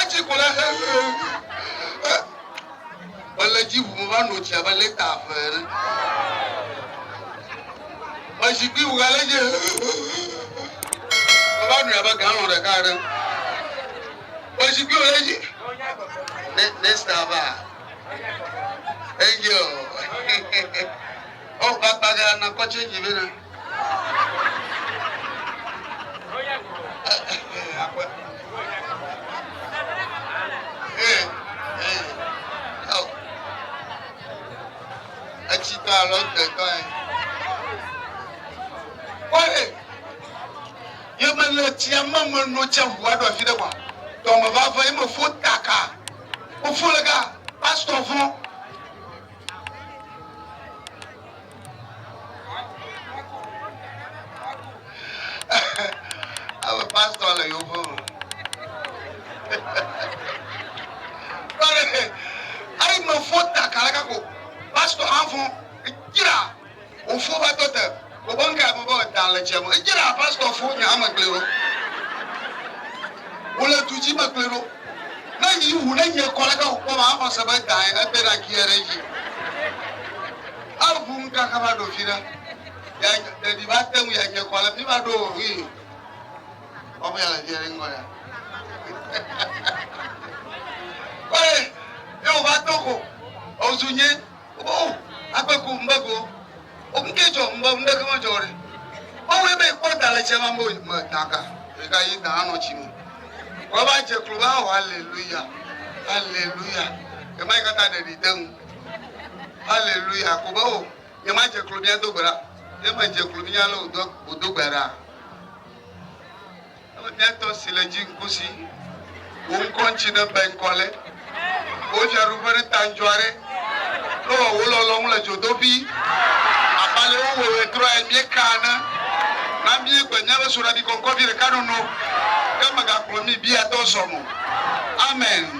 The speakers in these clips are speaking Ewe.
Etsi ku ɖe xexexe. Mele dzi ʋu meva no tsi abe lita eve ene. Me zikpui ʋu ale dzi meva nui abe galɔn ɖeka ene. Me zikpui ʋu ɖe dzi. Ne nesta va. Angel. Oh, kpakpa gã nakɔ change vɛ na. Etsi ta alo egbe ta ye. Kpɔe, ye mele tsia me meno tsia ŋu aɖo afi ɖe gɔa. Dɔme va ve ye mefo taka. Mefo le ga pastɔ vɔ̃. Ame pastor le yewo ƒe me. Kpɔɖe he, eyi me fo ta kala ka ko pastor hã fo edzra ofo va tɔ te obe ŋkɛ ame be da le tse me edzra pastor fo nya ame kple ɖo wole du dzi me kple ɖo. Ne yi wu ne nye kɔ leke wokpɔ ma axɔ se be dae ebe na ki ere yi. Avu ŋkaka va ɖo fina. Ya ɖeɖi va te ŋu ya nye kɔ le mi va ɖo wi. Ɔmu ya le vi ere ŋgɔ ya. Kɔe, ye wo va to ko. Ozu nye. Wobɔwo agbe ko ŋbe go. Okunke jɔ ŋbe ŋbe ke mejɔ ɖe. Mawu ye be kpɔ da le tse ma bo me da ka. Eka yi da anɔ tsi me. Wọ́n va dze klo va wɔ aleluya. Aleluya. Ema yi kata ɖeɖi de ŋu. Aleluya. Ko be o nye ma dze klo mía do gbe ɖa. Ye me dze klo mía le o do o do gbe ɖa. Wò detɔ si le dzi ŋku si wò ŋkɔ ŋtsi ne be ŋkɔ le wò dzi aɖu ƒe ɖe ta ŋdzɔ aɖe kple wɔ wò lɔlɔ ŋu le dzodoƒi abe ale wò wɔ wɔ trɔ yɛ mie ka ene. Na mie gbe mia be soɖabi kɔnkɔ vi ɖeka nono ke me ga kplɔ mi biatɔ zɔ mo. Amen.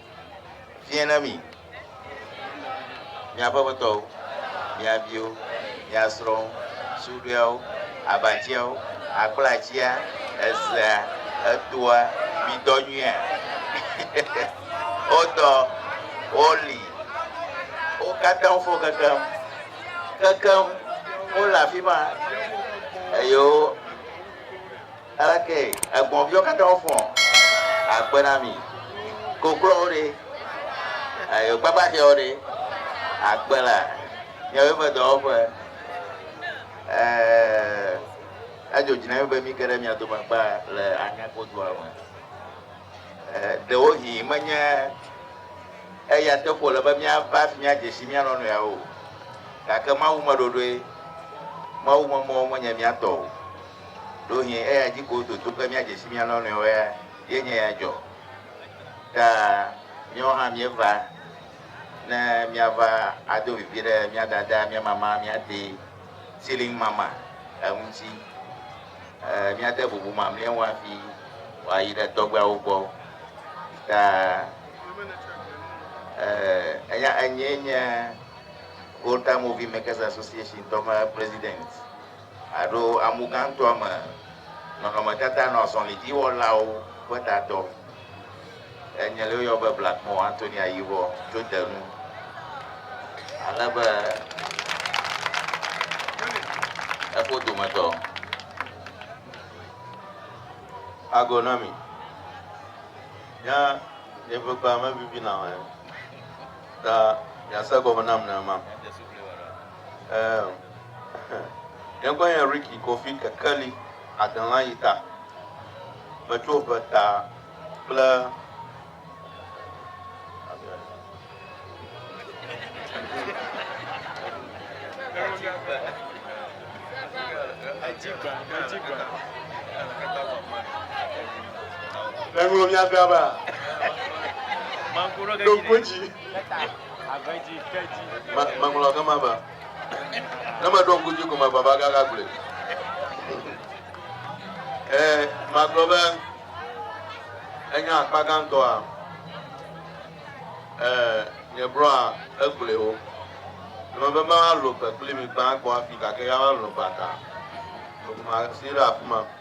fiẽ na mi, miaƒe aƒetɔwo, mia viwo, mia srɔ̃wo, suɖɔeawo, abatiawo, akplatia, ezea, etoa, midɔ nyuia. wodɔ, woli, wo katã fo kekem, kekem, wole afi ma, eye wo. Aleke egbɔ̃viwo katã wofɔ̃ akpe na mi? Koklɔwo ɖe? Ayo kpakpaxɛwo ɖe? Akpe la miawo ƒe dɔwɔƒe ee, edzo dzi na mi be mike ɖe mia dome akpa le Anyako dua me. Ee, ɖewohĩ menye eya teƒe wòle be míava hafi míadze si mía nɔnɔeawo o, gake Mawu meɖoɖoe, Mawu memɔwo menye mía tɔ o. Ɖewohĩ eya dzi ko wododo be míadze si mía nɔnɔewo ya ye nye ya dzɔ. Ta míawo hã míeva ne míava ado vivi ɖe mía dada, mía mama, mía te, Ceiling Mama, eŋuti. Eh, míade bubu mamlɛawo hafi wòayi ɖe tɔgbeawo gbɔ. Ta eh, eya enyee nye Volta Movie Makers Association tɔ ƒe president. Aɖo amu gãtɔa me nɔnɔmetata nɔ azɔlidziwɔlawo ƒe tatɔ, enye le woyɔ be Blackmore Anthony Ayivɔ tso te nu, ale be eƒo dometɔ ago na mi. Nya yeƒe kpea mevivi nam o, ta miase egɔme nam nenema. Eemm Míagbɔ nye Ricky Kofi Kekeli Adelã yi ta metso ŋe ta kple Eŋlo mia be aba. Ɖo ŋko dzi. Meŋlɔ gama be ne meɖo ŋku dzi ko me baba gaga gblɔe. Ee, magblɔ be enye akpa gãtɔa ee, nye blɔa egblɔe o. Eme be mawalɔ gbe kpli mi gbã gbɔ afi gake ya malɔ gbe ata. Masi ɖe afi ma.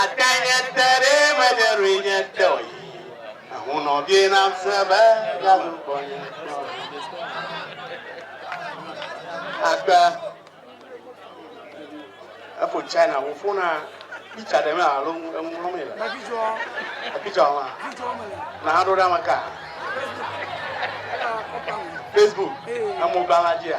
Ate nye te ɖe menye ɖoe nye te o yi ehu nɔ vie nam se be galu kpɔ nye te o akpe efo china wo fona pizza ɖe me alo enu lɔ me le pizza ma na ha ɖo ɖe amaka facebook emogba la dzia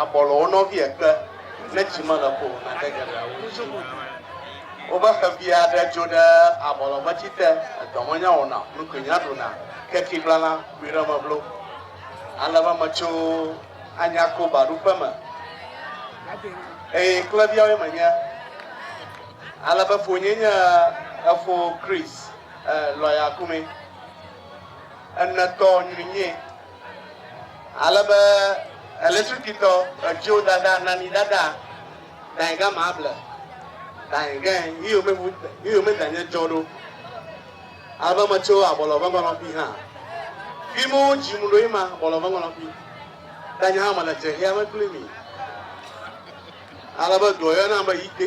Abɔlɔ wo nɔvi ekpe ne tsi mele ko o nate geɖea wo dzi. Wobe xevi aɖe dzo ɖe abɔlɔ ƒe tsi te, edɔ menya wɔna o, nukui nya ɖuna, ke tsi gblana kpuie ɖe eme blo. Ale be metso Anyako baɖuƒe me eye kleviawoe menye. Ale be fonyee nye efo Chris, eh, lɔya kume. Enetɔ nyui nyee. Ale be Elisutitɔ etsiwo dada nani dada dae ga ma ble dae ge yi yome bu yi yome danye tsɔ ɖo. Ale be metso abɔlɔ ve ŋɔlɔfi hã. Fi mu dzi mu ɖo yi ma abɔlɔ ve ŋɔlɔfi. Danye hã mele tsexia me kpli mi. Ale be dɔ yɔ nam be yi te.